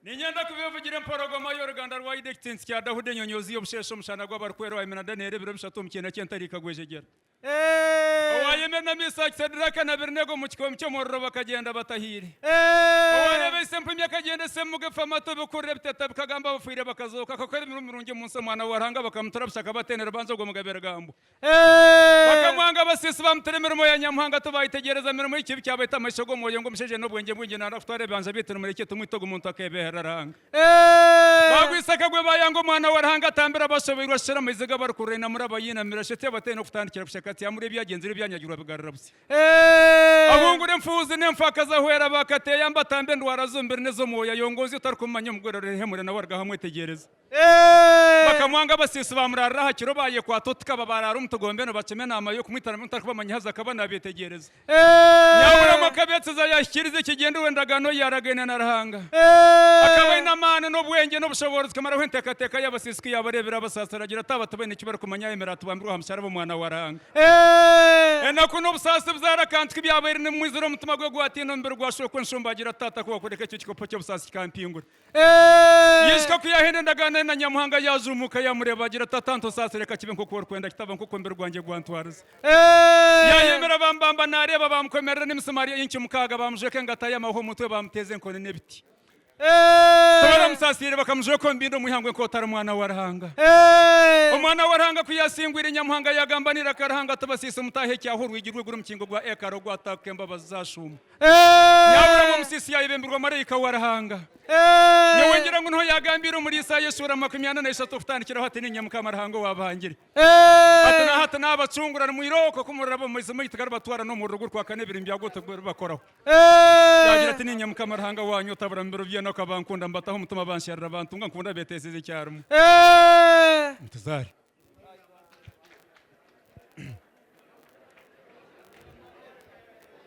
ninyenda kubevugira emporogoma y'oruganda rwa ida ekitintsi kya dahuda enyonyoozi y'obusheeshe omushana gw'abarikwera owayimena danieri ebiro bishatu omu kiina ky'entariika gwejegyera owayimena misaki sediraka na birinego omu kikoomi ky'omuriro bakagyenda batahiire owareeba ise empumi akagyenda ise emuga efa amatu ebikurura ebiteta bikagamba abafiire bakazooka akakora emirimo mirungi omu nsi omwana wa ruhanga bakamutura busha akabatendera banza ogwo mugabe rugambwa Bakamwanga abasiisi bamutira emirimo ya Nyamuhanga tibaayitegyereza mirimo y'ekibi kyabaita amaisho g'omwoyo ngu omushaija aine obwengye bwingi naarwa kutwara ebibanja byaitu nimurekye tumwite ogu muntu akeebeeherera Ruhanga. Baagwisa akagwe baayanga Omwana wa Ruhanga atambira abashoboirwe ashusha amaizi g'abarikururainamura abayiinamira shi atiaba ataine kutandikira busha kati amurya ebyagyenzire ebyanyagirwa bigarura busya ahungure enfuuzi n'enfakazi ahwera baakati ayambe atambe endwara z'omubiri n'ez'omwoyo ayongooze otarikumumanyaho omugwerero rihehemure nawe arugaho amwetegyereze. Bakamwanga abasiisi baamuraarira aha kiro baayekwata oti ka babaaraara omu tugombe nibakima enaama y'okumwita nabwo ntarikubamanyaho haza akaba naabeetegyereza. Nyaaburamu akabeetsiza yaahikiriza ekigyendererwa endagaano ei yaaragaine na Ruhanga. Akaba aine amaani n'obwengye n'obushoboorozi kumaraho enteekateeka y'abasiisi ku yaabareebire abasaasira agira ati, Aba tibaine eki barikumanya ayemere atubambirwe aha musharaba Omwana wa Ruhanga. Enaku n'obusaasi buzaara akantu ku byabaire nibimwizira omutima gwe gwatiina omubiri gwa Shooko enshumba agira ati, Taata ku waakureka ekyo kikopo ky'obusaasi kikampingura, Yaisika ku yaahenda endagaano ye na Nyamuhanga, yaajumbuuka yaamureeba, agira ati, Tata, ntusaasire, ka kibe nk'oku orikwenda, kitaba nk'oku omubiri gwangye gwantwariza. Yaayeyomera baamubamba naareeba, baamukomerera n'emisimaari enki mukaaga, baamujweka engata y'amahwa omu mutwe, baamuteeza enkoni n'ebiti. Tibaramusaasiire, bakamujweka omu bindo omu ihangwe nk'oti ari mwana wa Ruhanga. Omwana wa Ruhanga ku yaasingwire, Nyamuhanga yaagamba n'eiraka Ruhanga ati, Basiise omutaahi ekyaaho orwigi rw'eiguru omukingo gwa ekaari ogwataaka embabazi zaashuuma. Yaahuramu omusiisi yaayebembirwa maraika wa Ruhanga. Nyowe ngira ngu niho yaagambiire omuri Isaaya eshuura makumi ana na ishatu okutandikiraho ati, Niinye Mukama Ruhanga owaabahangire. Hati na hati naabacungura, nimwira okwo ku muriraba omu maizi maitu garibatwara n'omuriro gurikwaka n'ebiri byagwo tibiribakoraho. Yaagira ati, Niinye Mukama Ruhanga waanyu otabura mu biro by'enaku abankunda, mbataho omutima bansherura, bantunga, nkunda beeteezize ekyarimwe. Mutuzaare.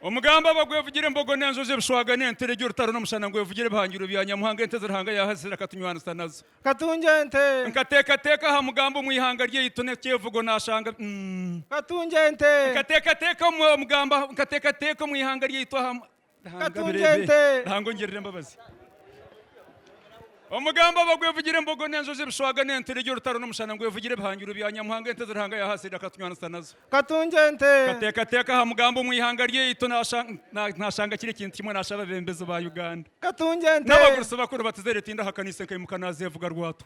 omugambo aba gwevugire embogo n'enjojo ebishwaga n'ente regi orutaro n'omushana ngu evugire ebihangirwe bya nyamuhanga ente ezi ruhanga yaahazire akatunywanisa nazo katungi ente nkateekateeka aha mugambo omu ihanga ryaitu n'ekyevugo naashanga mm katungi ente nkateekateeka omu mugambo nkateekateeka omu ihanga ryaitu aha Katunge ente. Ruhanga ongirire embabazi. Omugambo oba gwevugire embogo n'enjojo ebishwaga n'enturegye orutaro n'omushana ngu evugire ebihangirwe bya Nyamuhanga ente ezi Ruhanga yaha Sayidi akatunywanisa nazo. Katunge ente. Kateekateeka aha mugambo omu ihanga ryaitu nashanga kiri ekintu kimwe nasha ababembezi ba Uganda. Katunge ente. N'abagurusi bakuru batuzaire tindahakana isenka aimuka nazevuga rwatu.